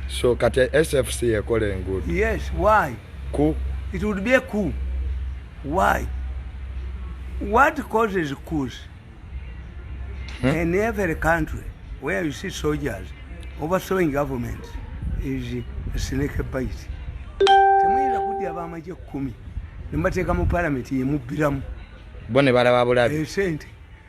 so kati sfc ekola enguudo yes why ku it would be a coup why what causes coups hmm? in every country where you see soldiers overthrowing government is a snake bite temuyinza kudya bamaje kumi nemubateeka mu palamenti yemubbiramu bo ne balaba bulabi esente eh,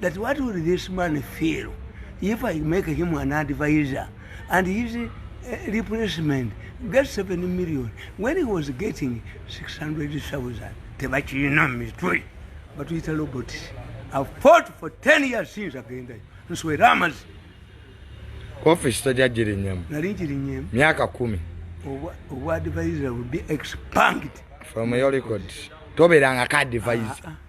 that what will this man feel if i make him an advisor and his uh, replacement get 7 million when he was getting 600000 tebakirina mitwe batuyita robot i fought for 10 years since agendayo nswera amazi office tojajirinyemu nali njirinyemu myaka kumi obwadvisor will be expunged from your record tobeeranga ka advisor ah, ah.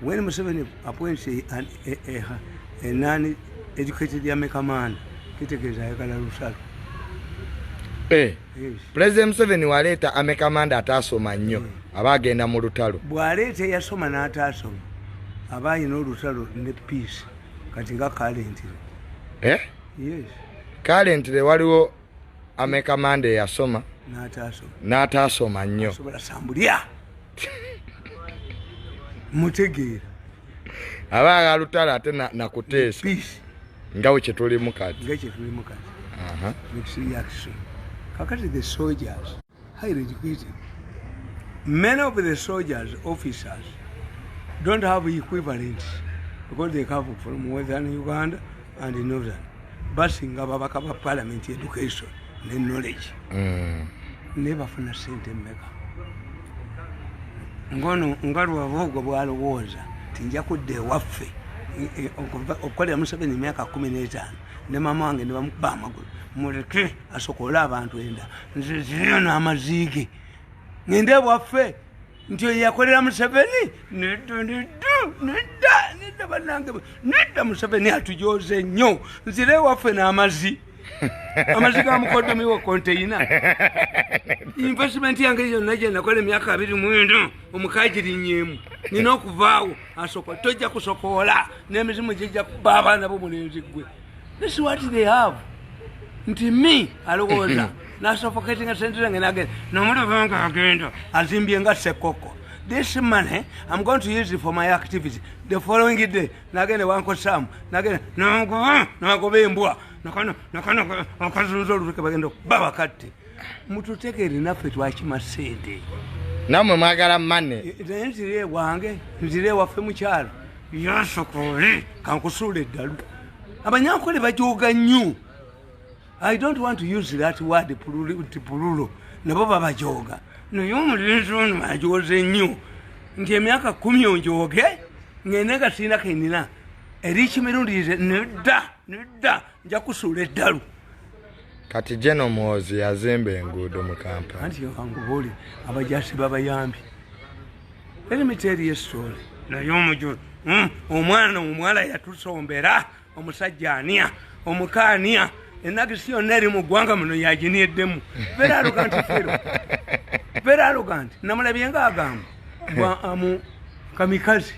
When Museveni appoints a, a, a, a, a non-educated Yameka man, kitegeeza ayagala lusalo. Eh, yes. President Museveni waleeta Ameka Manda ataasoma nnyo mm. aba agenda mu lutalo. Bw'aleeta eyasoma n'ataasoma aba alina olutalo ne peace kati nga kalentire. Eh? Yes. Kalentire waliwo ameka mande yasoma n'ataasoma nnyo mutegeera aba alutala ate nakuteesa nga we kyetulimu kati kakati the soldiers highly educated. Many of the soldiers, officers, don't have equivalents because they come from Western Uganda and Northern. Basinga babaka ba parliament education ne knowledge. Mm. Never from a saint in Mecca. Ngono ngaru wa vogo wa alwoza. Tinja kude wafe. Okole ya musabe ni miaka kumineta. Nema mwange ni wa mkubama. Mwere kre. asokola abantu enda nze ziriyo n'amaziige ngende bwaffe nti oyo yakolera museveni nedda nedda nedda nedda banange nedda museveni atujoze nnyo nzira ewaffe n'amazi amazi ga mukodomi wa konteyina investment yange yonna gye nakola emyaka abiri mwendo omukagirinyemu nina okuvaawo asoka tojja kusokoola n'emizimu gijja kuba abaana bo mulenzi gwe This what they have. Nti me alowooza nasuffocating sente zange nagenda nomuluvanga agenda azimbye nga sekoko this money i'm going to use it for my activity the following day nagenda wankosamu nagenda nakuba nakuba embwa nakano nakano akazunza oluteke bagenda okuba bakatte mututegere naffe twakima sente namwe mwagala mane eh, naye nzire ewange nzire ewaffe mukyalo yasokole kankusuula eddalu abanyankole bajoga nnyo i don't want to use that word nti pululo nabo babajoga naye omulenzi ono ajoze nnyo nti emyaka kumi onjoge ngende nga sirina kenina eri kimirundi nedda nedda nja kusuula eddalu kati jeno mwozi yazimba enguudo mu kampala anti yakangubuuli abajasi babayambi erimiteeri yesoole naye omujulu hmm, omwana omuwala yatusombera omusajja ania omukaania enagisi yonna eri mu ggwanga muno yaginiyeddemu veraluga nti fero veraluga nti namulabye nga agamba bwa amu kamikazi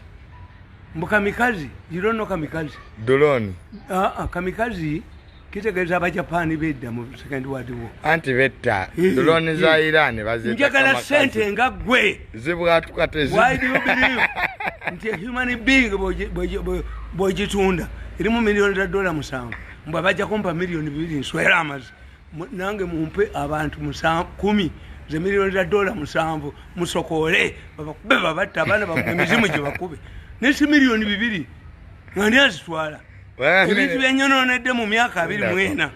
mbu kamikazi you don't know kamikazi duloni aa ah, ah, kamikazi kitegeeza abajapani bedda mu second world war anti betta duloni za iran bazinjagala sente nga gwe zibwatuka tezi why do you believe nti human being bwogitunda erimu miliyoni za dola musanvu mbu abajja kumpa miliyoni bibiri nswera amazi nange mumpe abantu kumi ze miliyoni za dola musanvu musokoole babakube babatta abaana bakuba emizimu gye bakube naye si miliyoni bibiri ngani azitwala ebintu byenyonoonedde mu myaka abiri mwena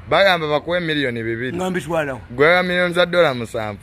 bagamba bakuwe miliyoni bibiri nga mbitwalawo gwega miliyoni za dola musanvu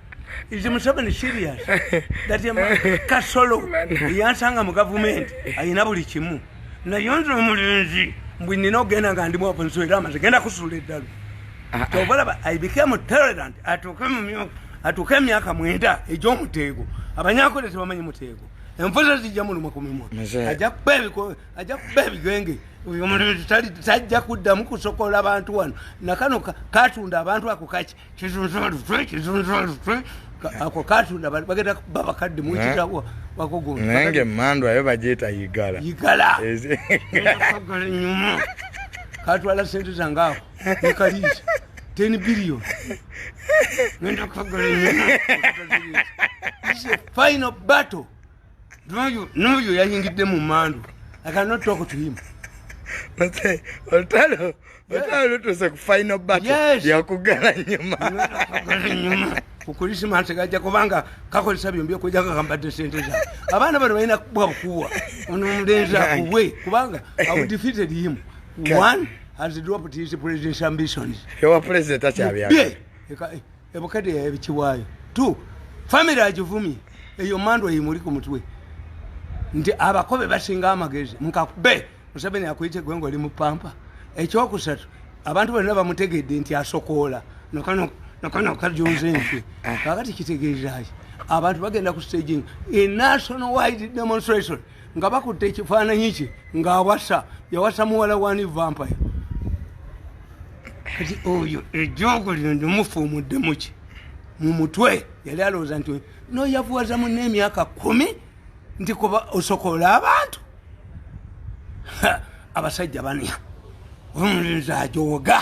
Is Museveni serious that a man kasolo yansanga mu government ayina buli kimu naye nze omulenzi mbwe nina okugenda nga ndi mwavu nswera amazi genda kusuula eddalu ah, ah. kyobalaba i became tolerant atuuke mu myaka atuuke emyaka mwenda egy'omuteego abanyakole tebamanyi muteego enfuza zijja muluma ku mimwa ajja kuba ebigenge oyo omulenzi tajja kuddamu kusokola abantu wano nakano katunda abantu ako kaki ako katunda bagenda kuba bakadde mukitabo bakogo naye nga emmandu ayo bagyeta yigala yigala agala nyuma katwala sente zange ako nekaliisa ten billion ngenda kukagala nyuma final battle n'oyo yayingidde mu mandu olutalo olutalo lutuuse ku final battle yakugala nyuma kukulisimansi gajja kubanga kakozesa byombi okuja kakambadde sente za abaana bano balina kubwa bukuwa ono omulenzi akuwe kubanga awudifeated him one has dropped his president's ambitions ewa president akyabyaka ebukadde yayabikiwaayo t famiry agivumye eyo mandwa yimuli ku mutwe nti abakobe basinga amagezi mukakube museveni akuyite gwe ngaoli mu pampa ekyokusatu abantu bonna bamutegedde nti asokoola nakana kajunze nfe kakati kitegeezaki abantu bagenda ku staging e national wide demonstration nga bakutte ekifaananyi kye ng'awasa yawasa muwala wani vampire kati oyo ejoogo lino ndimufa omuddemu ki mu mutwe yali alowooza nti noyavuwaza munna emyaka kumi nti kuba osokoola abantu abasajja bania omulinzi ajooga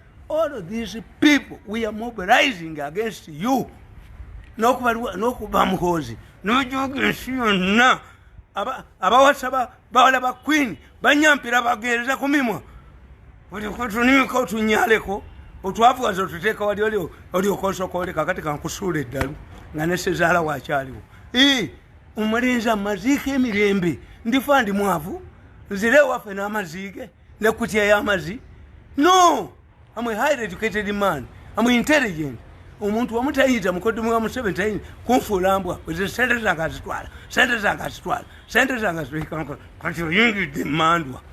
all of these people we are mobilizing against you nokuba muhoozi nojoga ensi yonna abawasa bawala ba queen banyampira bagereza ku mimwa tulimika otunyaleko otwavuwaza otuteeka wali olyoka osooka oleka kati kankusuula eddalu nga nesezaala wakyaliwo omulinzi amaziika emirembe ndifa ndi mwavu nzire ewaffe n'amaziige ne kutya yamazi no am a highly educated man am intelligent omuntu wamu tayinza mukodomu wa museveni tayinza kunfuula mbwa oze sente zange azitwala sente zange azitwala sente zange azitwala kati oyingidde mandwa